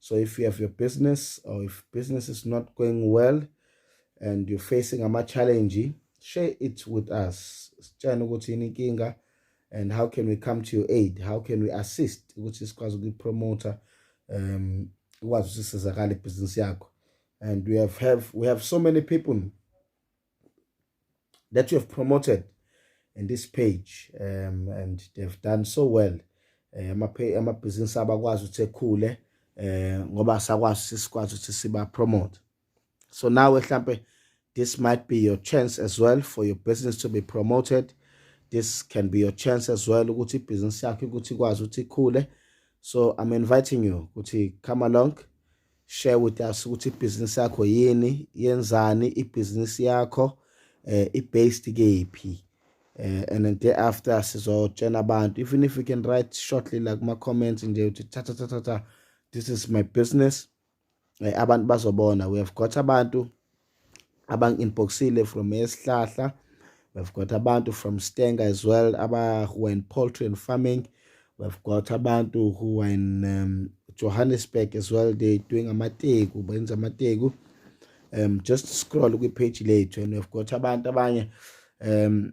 so if you have your business or if business is not going well and you're facing ama challenge share it with us sitshana ukuthi yini inkinga and how can we come to your aid how can we assist ukuthi sikwazi ukuyipromoter um ukwazi usisizakala ibhizinisi yakho and we have have we have so many people that you have promoted in this page um, and they've done so well eh, amabhizinisi abakwazi ukuthi ekhule eh ngoba sakwazi sisikwazi ukuthi siba promote so nawe mhlambe this might be your chance as well for your business to be promoted this can be your chance as well ukuthi business yakho ukuthi ikwazi ukuthi ikhule so i'm inviting you ukuthi come along share with us ukuthi ibhizinisi yakho yini yenzani ibhizinisi yakho eh i-based kephi eh and then day after sizotshela abantu even if you can write shortly like my comments nje uthi cha cha cha cha this is my business eh, abantu bazobona we have got abantu abangi-inboxile from esihlahla we've got abantu from stanger as well aba who are in poultry and farming we've got abantu who are in um, johannesburg as well they doing amateku benza amateku um just scroll kwi-page lethu and we've got abantu abanye um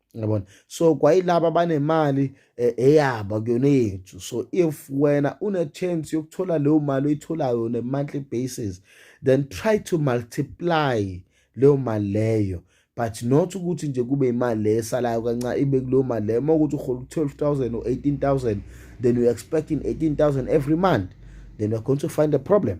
yabona so kwayilaba abanemali eh, eyaba kuyona yethu so if wena une chance yokuthola leyo mali oyitholayo on a monthly basis then try to multiply leyo mali leyo but not ukuthi nje kube imali le esalayo kancane ibe kuleyo mali leyo uma ukuthi uhola u-12000 or 18000 then you're expecting 18000 every month then you're going to find a problem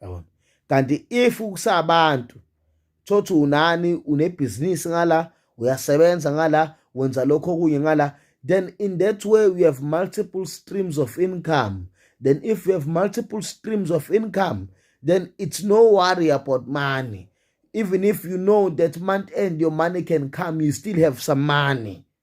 yabona kanti if kusabantu thothi unani unebhizinisi ngala uyasebenza ngala wenza lokho okunye ngala then in that way we have multiple streams of income then if we have multiple streams of income then it's no worry about money even if you know that month end your money can come you still have some money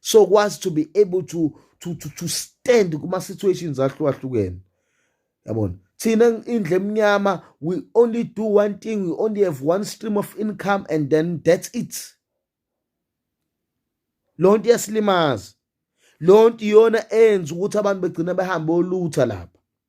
so kwazi to be able to to to, to stand kuma situations ahlukahlukene yabona thina indle emnyama we only do one thing we only have one stream of income and then that's it lonto yasilimaza lonto iyona enza ukuthi abantu begcina behambe olutha lapha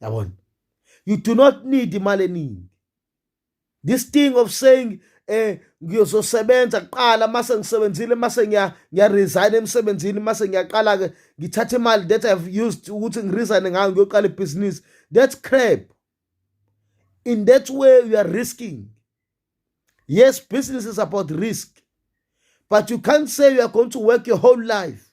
yabona you do not need imali eningi this thing of saying eh ngiyozosebenza kuqala mase ngisebenzile mase ngiya ngiya resign emsebenzini mase ngiyaqala ke ngithatha imali that I've used ukuthi ngiresign ngayo ngiyoqala ibusiness that's crap in that way you are risking yes business is about risk but you can't say you are going to work your whole life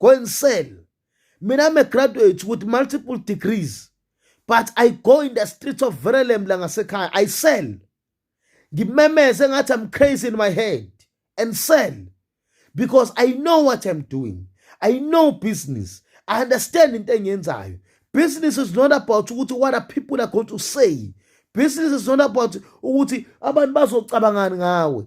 go and sell mina i'm a graduate with multiple degrees but i go in the streets of verelem la ngasekhaya i sell ngimemeze ngathi i'm crazy in my head and sell because i know what i'm doing i know business i understand into engiyenzayo business is not about ukuthi what are people are going to say business is not about ukuthi abantu bazocabangani ngawe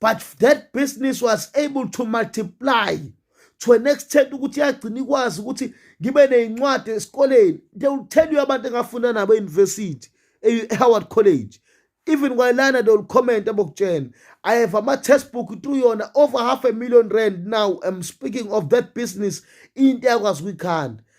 but that business was able to multiply to an extent ukuthi yagcina ikwazi ukuthi ngibe neyincwadi esikoleni they will tell you abantu engafunda nabo e-university e-howard college even kwayilana they will comment abokutshela i have ama-test book to yona over half a million rand now i'm speaking of that business into yakwazi ukuyikhanda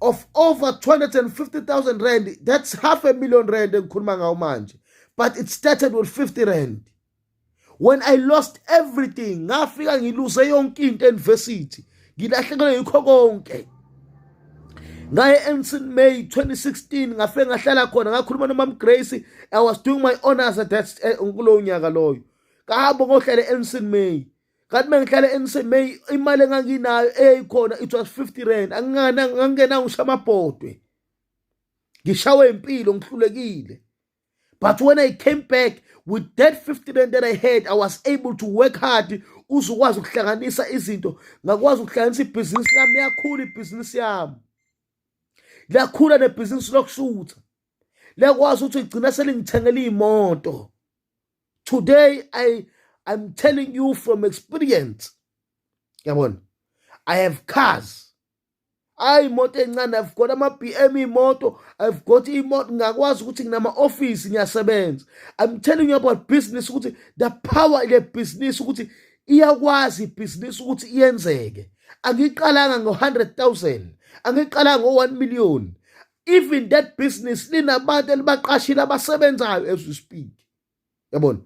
of over 250,000 rand that's half a million rand engikhuluma ngawo manje but it started with 50 rand when i lost everything ngafika ngiluse yonke into university ngilahlekelwe yikho konke ngaye ensin may 2016 ngafike ngahlala khona ngakhuluma nomam grace i was doing my honors at that eh, kulowo nyaka loyo kahamba ngohlale ensin may kanti uma ngihlala emsemay imali enganginayo eyayikhona it was 50 rand angingana ngangena ngisho amabhodwe ngishawe impilo ngihlulekile but when i came back with that 50 rand that i had i was able to work hard uzukwazi ukuhlanganisa izinto ngakwazi ukuhlanganisa ibhizinisi lami yakhula ibhizinisi yami lakhula nebhizinisi lokushutha liyakwazi ukuthi igcina selingithengela iy'moto today i i'm telling you from experience yabona i have cars hayi imoto encane i've got ama-bm imoto i've got imoto ngakwazi ukuthi nginama-ofisi ngiyasebenza i'm telling you about business ukuthi the power ile bhizinisi ukuthi iyakwazi ibhizinisi ukuthi iyenzeke angiqalanga ngo-hundred thousand angiqalanga ngo-one million even that business linabantu elibaqashile abasebenzayo as we speak yabona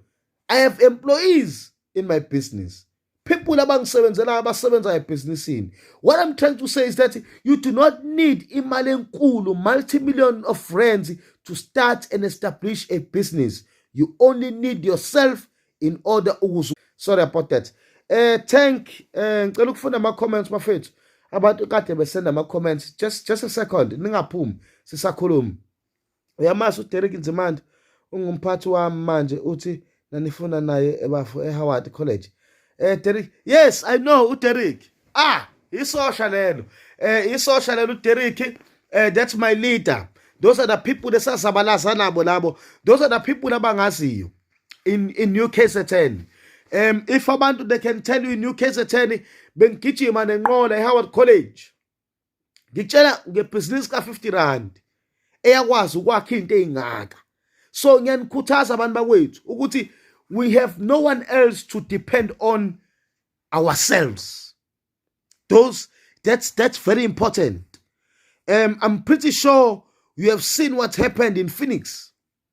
i have employees in my business people abangisebenzelayo abasebenzayo ebhizinisini what i'm trying to say is that you do not need imali enkulu multi-million of friends to start and establish a business you only need yourself in order ukuze sorry about that eh thank eh ngicela ukufunda ama comments bafethu abantu kade besenda ama comments just just a second ningaphumi sisakhuluma uyamazi uDerek Nzimande ungumphathi wami manje uthi nanifuna naye ebafo eHoward College eh Derek yes i know uDerek ah isosha lelo eh isosha lelo uDerek eh that's my leader those are the people lesazabalaza nabo labo those are the people abangaziyo in in New KZN um if abantu they can tell you in New KZN bengigijima nenqola eHoward College ngitshela ngebhizinisi ka-50 rand eyakwazi ukwakha into ey'ngaka so ngiyanikhuthaza abantu bakwethu ukuthi we have no one else to depend on ourselves those that's that's very important um i'm pretty sure you have seen what happened in phoenix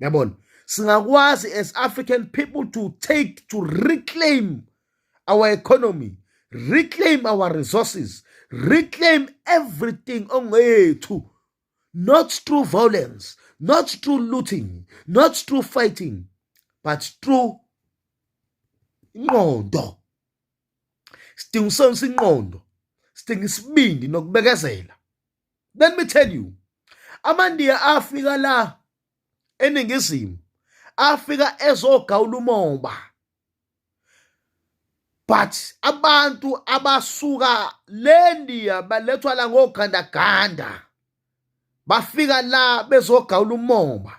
yabona singakwazi as african people to take to reclaim our economy reclaim our resources reclaim everything ongeyethu not through violence not through looting not through fighting but through inqondo sidinga usonisa inqondo sidinga isibindi nokubekezela let me tell you amandiya afika la eningizimu afika ezogawula umoba but abantu abasuka lendiya balethwa la ngogandaganda bafika la bezogawula umoba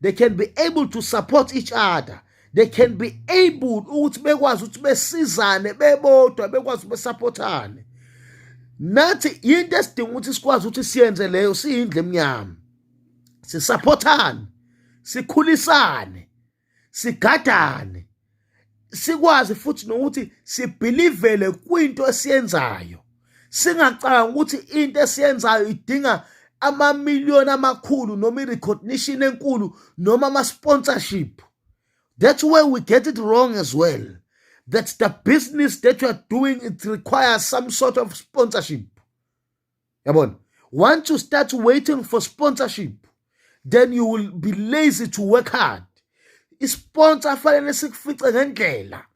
they can be able to support each other they can be able ukuthi bekwazi ukuthi besizane bebodwa bekwazi besupportane nathi into esidinga ukuthi sikwazi ukuthi siyenze leyo siyindle emnyama sisupportane sikhulisane sigadane sikwazi futhi nokuthi sibhilivele kwinto esiyenzayo singacanga ukuthi into esiyenzayo idinga amamiliyoni amakhulu noma i-recognition enkulu noma ama-sponsorship that's where we get it wrong as well that the business that you are doing it requires some sort of sponsorship yabona once you start waiting for sponsorship then you will be lazy to work hard isponsor fanele sikufice ngendlela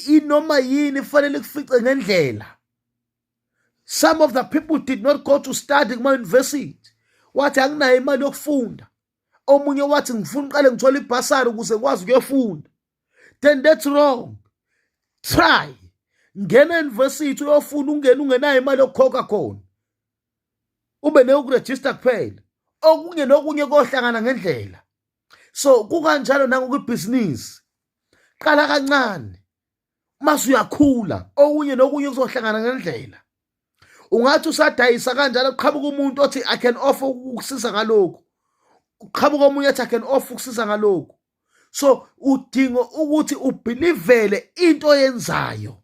inoma yini fanele kufice ngendlela some of the people did not go to study kuma university wathi anginayo imali yokufunda omunye wathi ngifuna uqale ngithola ibhasari ukuze ngikwazi ukuyofunda then that's wrong try ngena university uyofuna ungena ungenayo imali yokukhokha khona ube neyokurejista kuphela okunye nokunye kohlangana ngendlela so kukanjalo nangokwibhizinisi qala kancane mase uyakhula okunye nokunye kuzohlangana ngendlela ungathi usadayisa kanjalo qhamuka umuntu othi i can offer ukusiza ngalokhu uqhamuka omunye athi i can offer ukusiza ngalokhu so udinga ukuthi ubhilivele into oyenzayo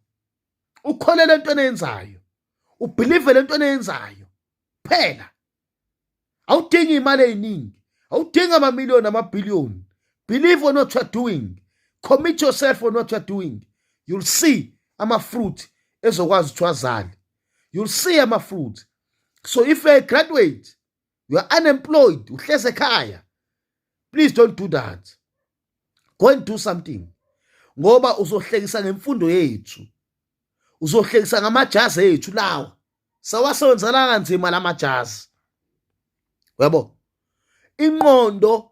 ukholele into oyenzayo ubhilivele into oyenzayo kuphela awudingi imali eziningi awudingi amamiliyoni amabhiliyoni believe on what you're doing commit yourself on what you're doing you'll see ama-fruit ezokwazi ukuthi wazale you'll see ama-fruit so if you're a graduate you are unemployed uhleze ekhaya please don't do that go and do something ngoba uzohlekisa ngemfundo yethu uzohlekisa ngamajazi ethu lawa sawasebenzela kanzima lamajazi uyabo inqondo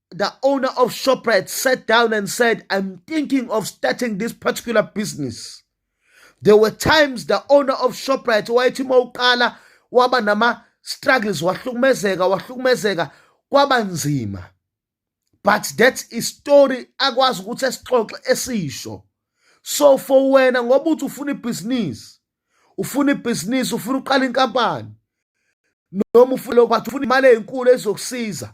the owner of Shoprite sat down and said, I'm thinking of starting this particular business. There were times the owner of Shoprite wayethi uma uqala waba nama struggles wahlukumezeka wahlukumezeka kwaba nzima. But that is story akwazi ukuthi esixoxe esisho. So for wena ngoba uthi ufuna ibhizinisi ufuna ibhizinisi ufuna uqala inkampani noma ufuna lokho ufuna imali ezinkulu ezokusiza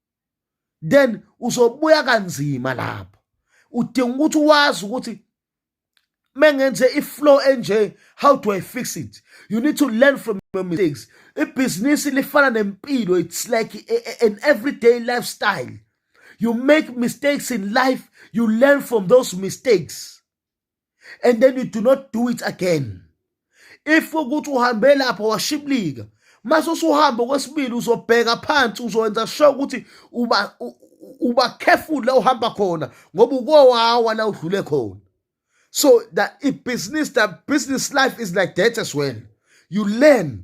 then uzobuya kanzima lapho udinga ukuthi wazi ukuthi mengenze iflow enje how do i fix it you need to learn from your mistakes ibhizinisi lifana nempilo it's like a, a, an everyday lifestyle you make mistakes in life you learn from those mistakes and then you do not do it again if ukuthi uhambe lapha washiblika mase usuhamba kwesibili uzobheka phansi uzowenza sure ukuthi uba uba careful la uhamba khona ngoba ukowawa la udlule khona so that i business that business life is like that as well you learn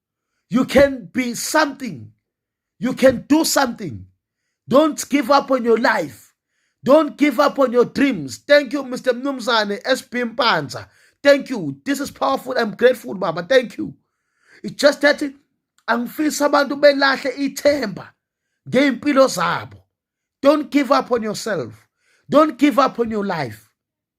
you can be something you can do something don't give up on your life don't give up on your dreams thank you mr mnumzane sb mpanza thank you this is powerful i'm grateful baba thank you it's just that angifisi abantu belahle ithemba ngey'mpilo zabo don't give up on yourself don't give up on your life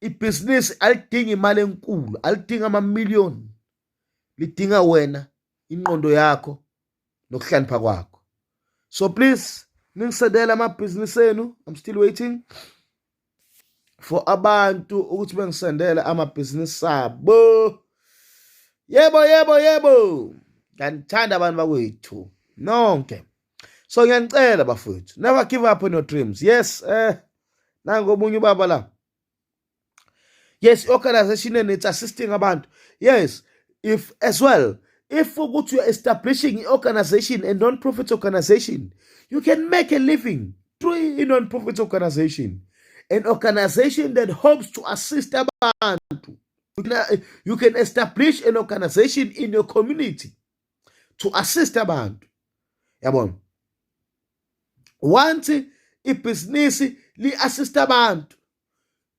ibhizinisi alidingi imali enkulu alidingi amamiliyoni lidinga wena inqondo yakho nokuhlanipha kwakho so please ningisedela amabhizinisi enu i'm still waiting for abantu ukuthi bengisendele amabhizinisi abo yebo yebo yebo nganithanda abantu bakwethu nonke so ngiyanicela bafowethu never give up on your dreams yes eh nango omunye ubaba la yes i-organization and it's assisting abantu yes if as well if ukuthi you're establishing i-organization a non-profit organization you can make a living through a non-profit organization an organization that hopes to assist abantu you can establish an organization in your community to assist abantu yabona once ibhizinisi li-assist abantu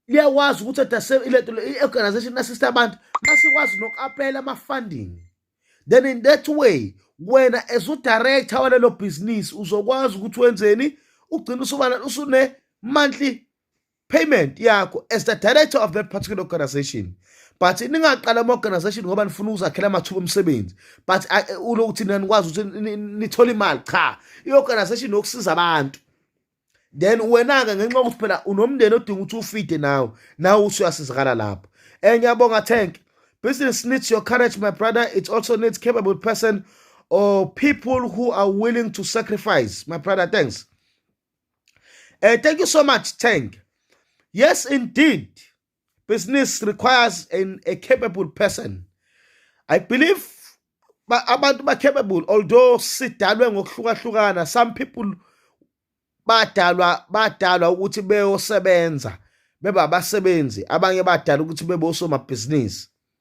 liyakwazi ukuthi adase ilento i-organization assist abantu basikwazi noku-apela ama-funding then in that way wena as udirector walelo bhizinisi uzokwazi ukuthi wenzeni ugcina usubana usune-monthly payment yakho as the director of that particular organization but ningaqala ama-organization ngoba nifuna ukuzakhela amathuba omsebenzi but ulokuthi nina nikwazi ukuthi nithole imali cha i-organization yokusiza abantu then wena-ke ngenxa yokuthi phela unomndeni odinga ukuthi ufide nawe nawe usuyasizakala lapho um ngiyabonga tank business needs your courage my brother it also needs capable person or people who are willing to sacrifice my brother thanks Uh, thank you so much, Tang. Yes, indeed. Business requires an, a capable person. I believe abantu ba capable although sidalwe ngokuhlukahlukana some people badalwa badalwa ukuthi beyosebenza beba abasebenzi abanye badala ukuthi bebe osomabhizinisi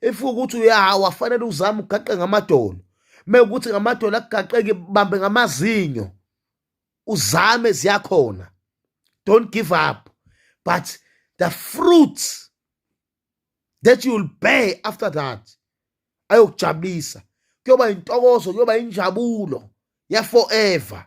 if ukuthi uyahawa fanele uzame ugaqe ngamadolo mekuthi ngamadolo akugaqeki bambe ngamazinyo uzame ziyakhona don't give up but the fruits that you will bear after that ayokujabulisa kuyoba intokozo kuyoba injabulo ya forever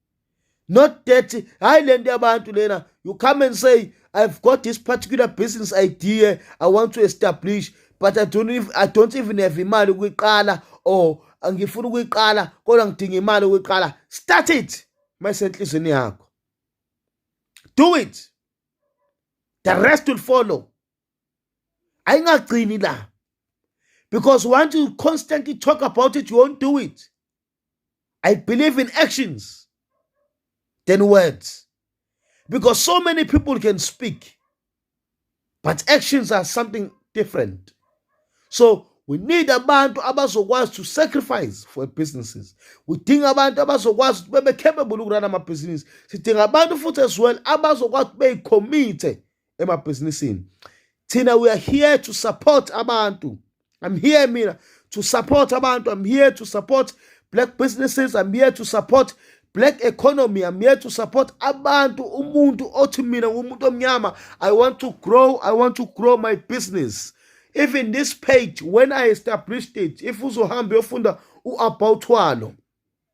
not that hayi lento yabantu lena you come and say i've got this particular business idea i want to establish but i don't even, i don't even have imali ukuyiqala or angifuna ukuyiqala kodwa ngidinga imali ukuyiqala start it mayisenhlizweni yakho do it the rest will follow ayingagcini la because once you constantly talk about it you won't do it I believe in actions than words. Because so many people can speak, but actions are something different. So we need abantu abazokwazi to sacrifice for businesses udinga abantu abazokwazi ukuthi bebe capable ukurana amabhizinisi sidinga abantu futhi as well abazokwazi ukuthi beyicommite emabhizinisini thina we are here to support abantu i'm here mina to support abantu i'm here to support black businesses i'm here to support black economy i'm here to support abantu umuntu othi mina ngumuntu omnyama i want to grow i want to grow my business even this page when i established it if uzohamba uyofunda u-about walo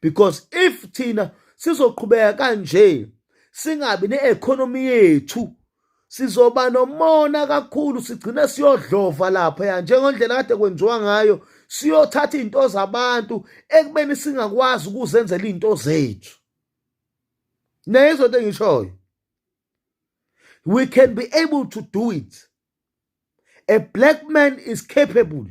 because if thina sizoqhubeka kanje singabi ne-economy yethu sizoba nomona kakhulu sigcine siyodlova lapha ya njengendlela kade kwenziwa ngayo siyothatha izinto zabantu ekubeni singakwazi ukuzenzela izinto zethu neyizwe into engishoyo we can be able to do it a black man is capable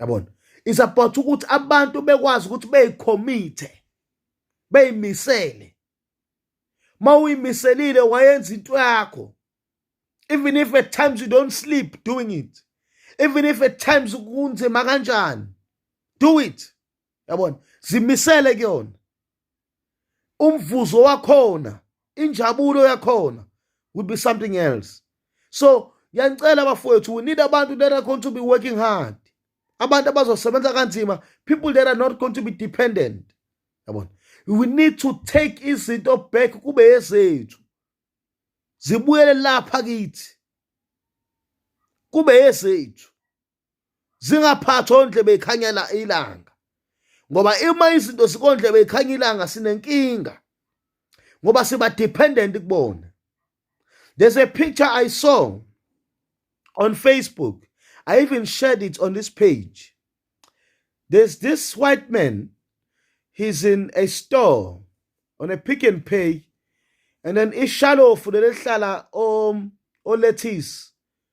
yabona isupport ukuthi abantu bekwazi ukuthi beyikhomithe beyimisele ma uyimiselile wayenza into yakho even if at times you don't sleep doing it even if at times kunzima kanjani do it yabona zimisele kuyona umvuzo wakhona injabulo yakhona will be something else so yanicela bafowethu we need abantu that are going to be working hard abantu abazosebenza kanzima people that are not going to be dependent yabona we need to take izinto back kube yezethu zibuyele lapha kithi kube yezethu zingaphathwa ondlebe ikhanyela ilanga ngoba uma izinto sikondlebe ikhanya ilanga sinenkinga ngoba siba dependent kubona there's a picture i saw on facebook i even shared it on this page there's this white man he's in a store on a pick and pay and then ishalofu lelihlala om um, olethisi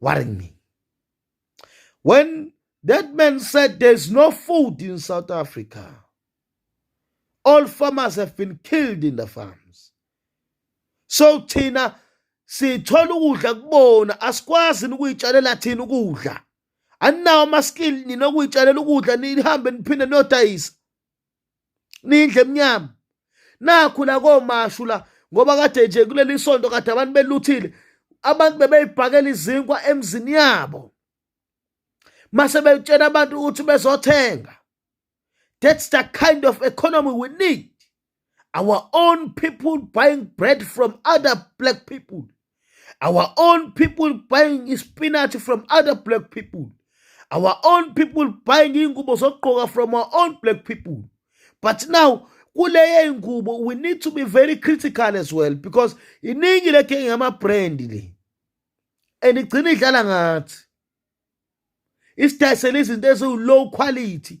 worrying me. When that man said there's no food in South Africa, all farmers have been killed in the farms. So thina sithola ukudla kubona asikwazi ukuyitshalela thina ukudla. Aninawo amaskill nina ukuyitshalela ukudla nihambe niphinde niyodayisa. nindle emnyama nakhu la komashu la ngoba kade nje kuleli sonto kade abantu beluthile abantu bebeyibhakela izinkwa emzini yabo mase betshela abantu ukuthi bezothenga that's the kind of economy we need our own people buying bread from other black people Our own people buying spinach from other black people. Our own people buying ingubo zokugqoka from our own black people. But now kuleye ingubo we need to be very critical as well because iningi leke ngama brand le. And igcina idlala ngathi. Isidayisela izinto eziwu low quality.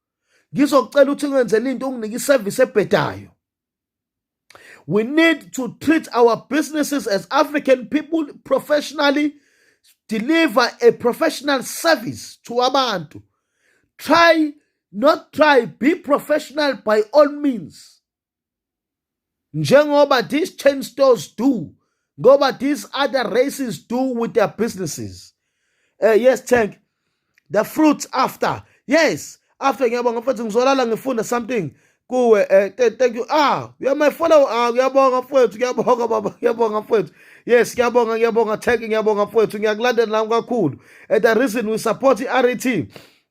ngizocela ukuthi ngenzele into unginike iservice ebhedayo we need to treat our businesses as african people professionally deliver a professional service to abantu try not try be professional by all means njengoba these chain stores do ngoba these other races do with their businesses uh, yes tank the fruits after yes after ngiyabonga mfethu ngizolala ngifunda something kuwe eh thank you ah you are my follow ah ngiyabonga mfethu ngiyabonga baba ngiyabonga mfethu yes ngiyabonga ngiyabonga thank you ngiyabonga mfethu ngiyakulandela nami kakhulu and the reason we support i-RET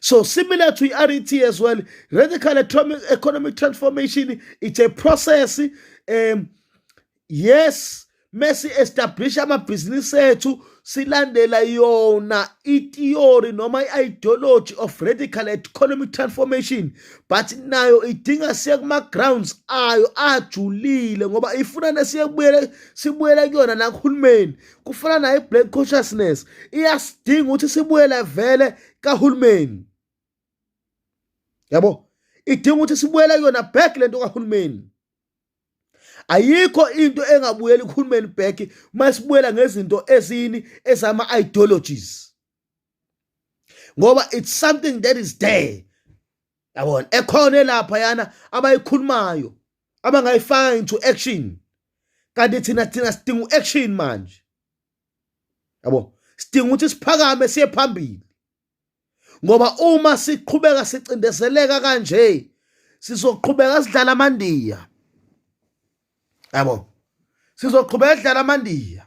So similar to RET as well, radical economic transformation, it's a process. Um, yes, mesi establish amabhizinisi ethu silandela yona ithiyori noma i-ideology of radical economic transformation but nayo idinga siye kuma-grounds ayo ajulile ngoba ifuna nesiyekubuyele sibuyele kuyona nakuhulumeni kufana naye black consciousness iyasidinga ukuthi sibuyele vele kahulumeni yabo idinga ukuthi sibuyele kuyona back lento kahulumeni ayikho into engabuyeli kuhulumeni back uma sibuyela ngezinto ezini ezama ideologies ngoba it's something that is there yabona ekhona lapha yana abayikhulumayo abangayifaka into action kanti thina thina sidinga uaction manje yabo sidinga ukuthi siphakame siye phambili ngoba uma siqhubeka sicindezeleka kanje sizoqhubeka sidlala amandiya yabo sizoqhubeka sidlala amandiya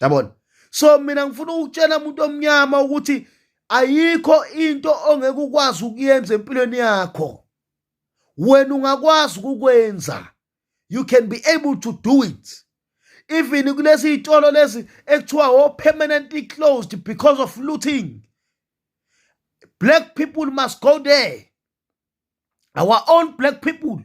yabona so mina ngifuna ukutshela umuntu omnyama ukuthi ayikho into ongeke ukwazi ukuyenza empilweni yakho wena ungakwazi ukukwenza you can be able to do it even kulezi iy'tolo lezi ekuthiwa o oh, permanently closed because of looting black people must go there our own black people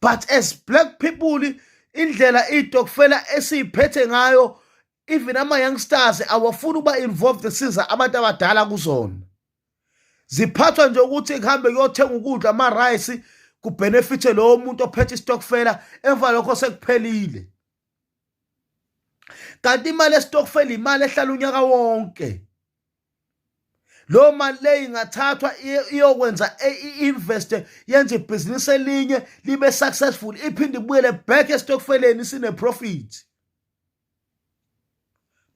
but as black people indlela itokufela esiyiphethe ngayo even ama youngsters awafuni ukuba involved siza abantu abadala kuzona ziphathwa nje ukuthi kuhambe kuyothenga ukudla ama rice kubenefithe lowo muntu ophethe istokfela emva lokho sekuphelile kanti imali estokfela imali ehlala unyaka wonke lo mali leyi ingathathwa iyokwenza e, i-invest yenze ibhizinisi elinye libe successful iphinde ibuyele back esitokfeleni sine-profit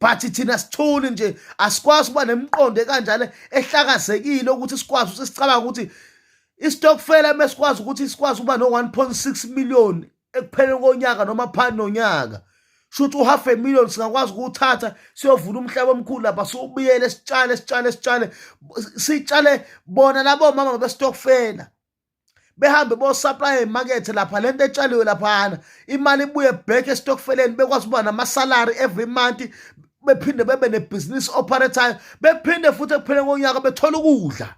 but thina sithuli nje asikwazi ukuba nemiqondo ekanjalo ehlakazekile ukuthi sikwazi ukuthi sicabanga ukuthi isitokfela mesikwazi ukuthi sikwazi ukuba no-1.6 million ekupheleni konyaka noma phani nonyaka shuthi uhalf a million singakwazi ukuthatha siyovuna umhlaba omkhulu lapha siwubiyele sitshale sitshale sitshale sitshale bona labo mama bestokfela behambe bosupply emakethe lapha lento etshaliwe laphana imali ibuye back estokfeleni bekwazi ukuba namasalary every month bephinde bebe nebhizinisi operator bephinde futhi ekupheleni konyaka bethola ukudla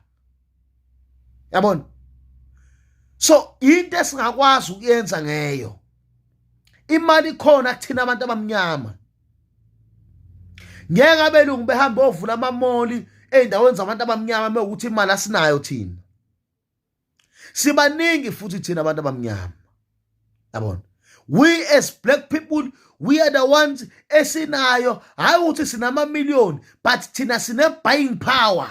yabona so into esingakwazi ukuyenza ngeyo imali ikhona kuthina abantu abamnyama ngeke abelungu behamba ovula amamoli ezindaweni zabantu abamnyama mewukuthi imali asinayo thina sibaningi futhi thina abantu abamnyama yabona we as black people we are the ones esinayo hayi ukuthi sinama million but thina sine buying power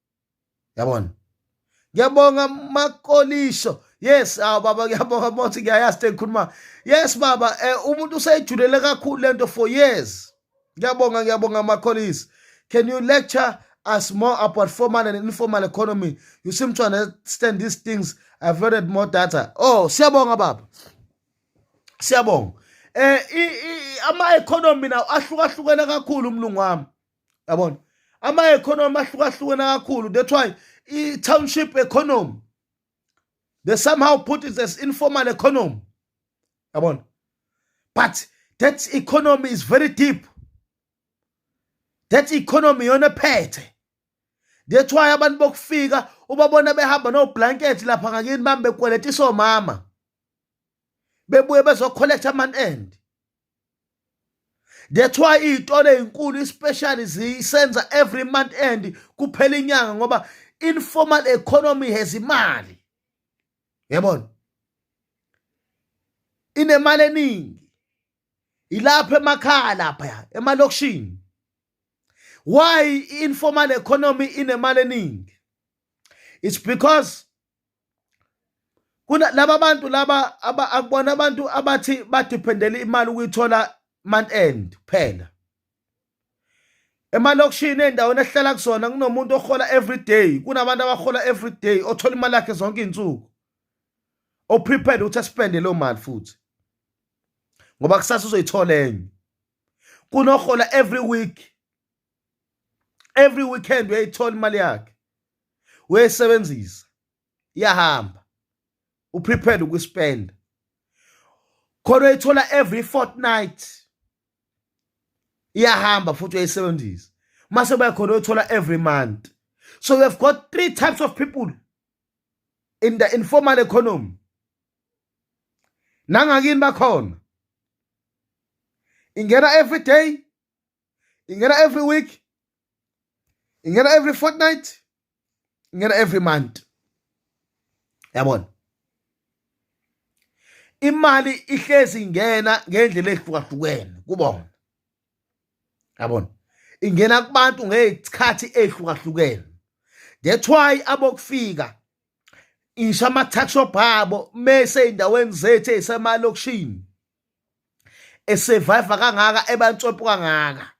yabona ngiyabonga makolisho yes aw ah, baba ngiyabonga bothi ngiyayazi tengikhuluma yes baba eh, umuntu useyijulele kakhulu lento for years ngiyabonga ngiyabonga makolisho can you lecture us more about formal and informal economy you seem to understand these things i've loaded more data oh siyabonga baba siyabonga eh ama economy nawo ahlukahlukene kakhulu umlungu wami yabona ama-economy ahlukahlukene kakhulu that's why i-township economy they somehow put it as informal economy yabona but that economy is very deep that economy yona ephethe that's why abantu bokufika ubabona behamba noblanket lapha ngakini bambe kweleta isomama bebuye bezokholektha aman end that's why iy'tolo ey'nkulu especially zisenza every month end kuphela inyanga ngoba informal economy has imali yabona inemali eningi ilapha emakhaya lapha emalokishini why informal economy inemali eningi it's because kuna laba bantu laba akubona abantu abathi badependele imali ukuyithola month end kuphela emalokishini endaweni ehlala kusona kunomuntu ohola every day kunabantu abahola every day othola imali yakhe zonke izinsuku oprepared ukuthi aspende leyo mali futhi ngoba kusasa uzoyithola enye kunohola every week every weekend uyayithola imali yakhe uyayisebenzisa iyahamba uprepared ukuspenda khona uyithola every fortnight iyahamba futhi uyayisebenzisa mase uba khona uyithola every month so we have got three types of people in the informal economy nangakini bakhona ingena every day ingena every week ingena every fortnight ingena every month yabona imali ihlezi ingena ngendlela ehlukahlukene kubona yabona ingena kubantu ngezikhathi ehlukahlukene that's why abokufika ngisho ama-taxshop abo mese ey'ndaweni zethu ey'semalokishini esurvive kangaka ebantswepho kangaka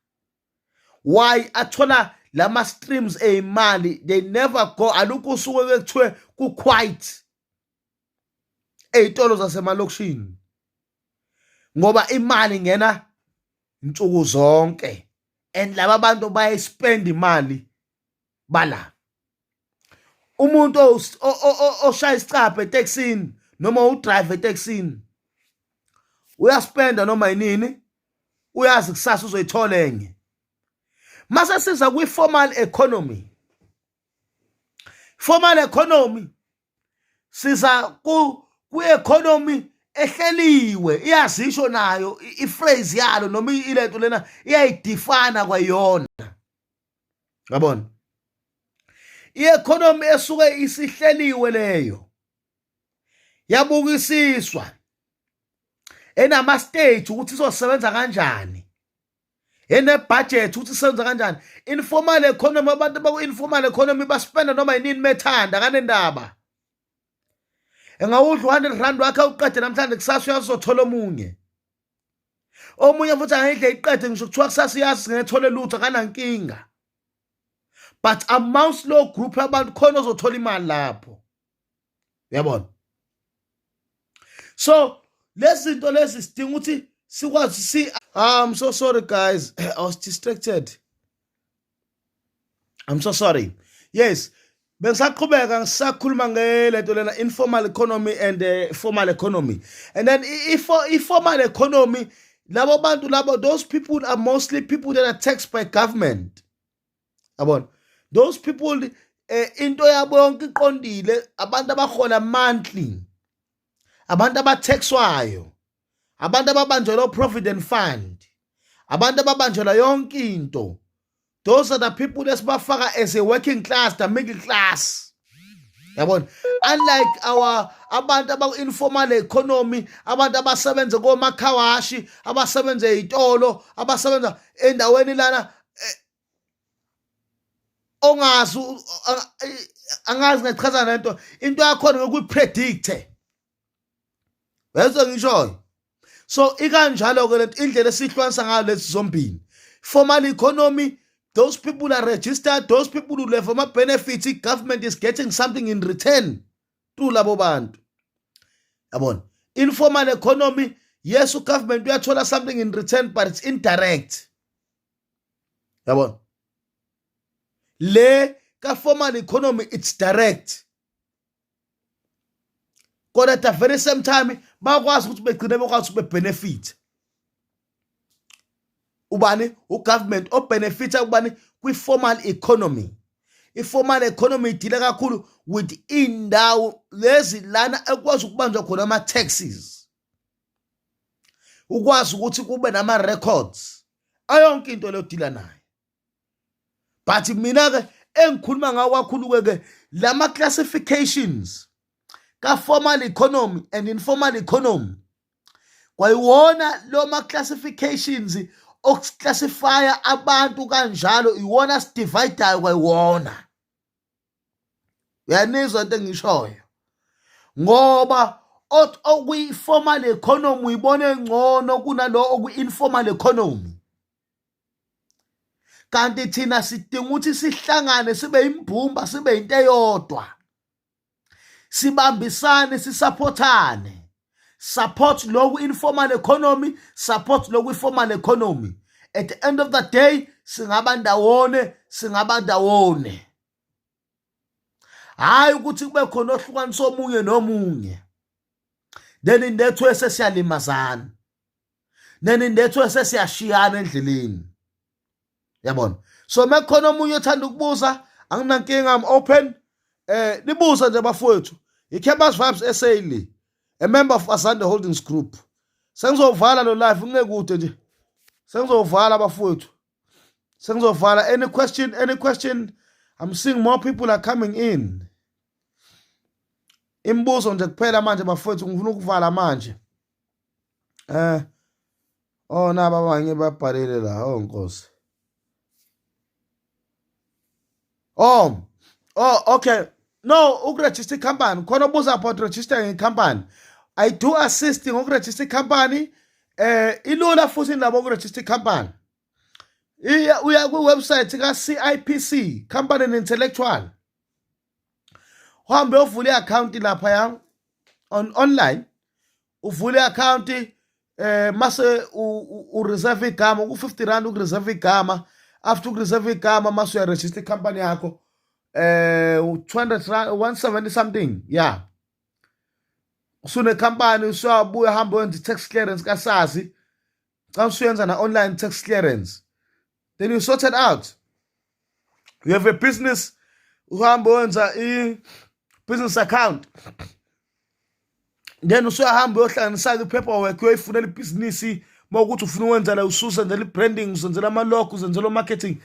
why athola lama streams eyimali they never go alukho usuku ekuthiwe ku quiet ezitolo zasemalokishini ngoba imali ngena insuku zonke and laba bantu baye spend imali bala umuntu oshaya isicabha etekisini noma udrive etekisini uyaspenda noma yinini uyazi kusasa uzoyithola enye mase siza kwi-formal economy formal economy siza kwi-economy ehleliwe iyazisho nayo i-phrase yalo noma ilento lena iyayidifana kwayona ngabona i-economy esuke isihleliwe leyo yabukisiswa enama stage ukuthi izosebenza kanjani enebudget ukuthi senza kanjani informal economy abantu baku-informal economy baspenda noma yinini methanda kanendaba engawudla u-hundred rand wakhe uqede namhlanje kusasa uyazothola omunye omunye futhi angayidle iqede ngisho kuthiwa kusasa iyazi singethole lutho akanankinga but amongst lo group abantu khona ozothola imali lapho uyabona so lezi zinto lezi sidinga ukuthi sikwazi si ah, I'm so sorry guys I was distracted I'm so sorry yes bengisaqhubeka ngisakhuluma ngelento lena informal economy and uh, formal economy and then i-formal economy labo bantu labo those people are mostly people that are taxed by government yabona those people eh into yabo yonke iqondile abantu abahola monthly abantu abathexwayo abantu ababanjelwa uprovident fund abantu ababanjelwa yonke into those are the people esibafaka as a working class the middle class yabona unlike our abantu abaku-informal economy abantu abasebenze komakhawashi abasebenze ey'tolo abasebenza endaweni lana eh, ongazi angazi ngachaza lento into yakhona ngokuyipredicte Bese ngishoyo. So ikanjalo ke lento indlela esihlukanisa ngayo lezi zombili. Formal economy those people are registered those people who have ama benefits i government is getting something in return to labo bantu. Yabona? Informal economy yes u government uyathola something in return but it's indirect. Yabona? Le ka formal economy it's direct. kodwa at the very same time bakwazi ukuthi begcine bekwazi ukuthi bebenefit ubani ugovernment obenefita ubani kwi-formal economy i-formal economy idile kakhulu with indawo lezi lana ekwazi ukubanjwa khona ama-taxes ukwazi ukuthi kube nama-records ayonke into leyo dila nayo but mina ke engikhuluma ngawo kakhulu ke ke lama classifications ka formal economy and informal economy kwayiwona lo ma classifications okuclassifya abantu kanjalo iwona sidividayo kwayiwona uyanizwa into engishoyo ngoba othi okuyi-formal economy uyibona engcono kunalo okuyi-informal economy kanti thina sidinga ukuthi sihlangane sibe imbumba sibe into eyodwa sibambisane sisaphothane support loku informal economy support loku formal economy at the end of the day singaba ndawone singaba ndawone hayi ukuthi kube khona ohlukanisa omunye nomunye nenindethwese siyalimazana nenindethwese siyashiyana endleleni yabona so mekukhona omunye othanda ukubuza anginankinga am open eh nibuza nje bafowethu i-campus vibes sa le a member of asande holdings group sengizovala lo live ngingekude nje sengizovala bafowethu sengizovala any question any question i'm seeing more people are coming in imibuzo nje kuphela manje bafowethu ngifuna ukuvala manje eh oh naba abanye babhalile la oh nkosi oh oh okay no ukuregister icompany khona obuza about register ngecompany i do assist ngokuregister icompany eh ilula futhi nabo ukuregister icompany iya uya ku website ka CIPC company and intellectual uhambe ovula i-account lapha ya on online uvule i-akhawunti eh mase ureserve igama ku-50 rand ukureserve igama after ukureserve igama mase uyaregister i-company yakho eh 200 rand 170 something yeah usunekhampani usuyabuya hambe wenza i-tax clearance kasazi xa usuyenza na-online tax clearance then you sorted out you have a business uhambe wenza i-business account then usuyahamba uyohlanganisa-ke i-paperwork uyoyifunela ibhizinisi uma ukuthi ufuna ukwenza la ususenzela i-branding usenzela ama-log usenzela o-marketing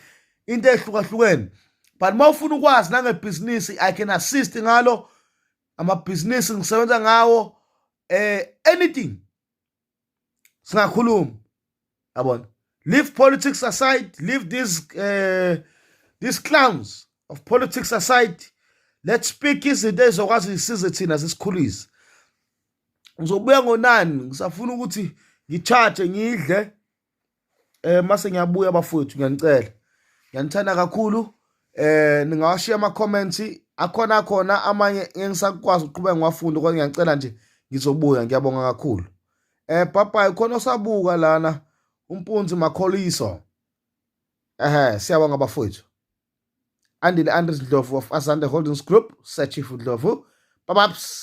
into ehlukahlukene but uma ufuna ukwazi nangebhizinisi i can assist ngalo amabhizinisi ngisebenza ngawo eh anything singakhuluma yabona leave politics aside leave these uh, these clowns of politics aside let's speak izinto ezokwazi isize thina sisikhulise ngizobuya ngonani ngisafuna ukuthi ngicharge ngidle eh mase ngiyabuya bafowethu ngiyanicela ngiyanithanda kakhulu eh ningawashiya ama comments akhona khona amanye engisakwazi ukuqhubeka ngiwafunda kodwa ngiyacela nje ngizobuya ngiyabonga kakhulu eh bye khona osabuka lana umpunzi makholiso ehe siyabonga bafowethu andile andres ndlovu of asante holdings group sir chief ndlovu babaps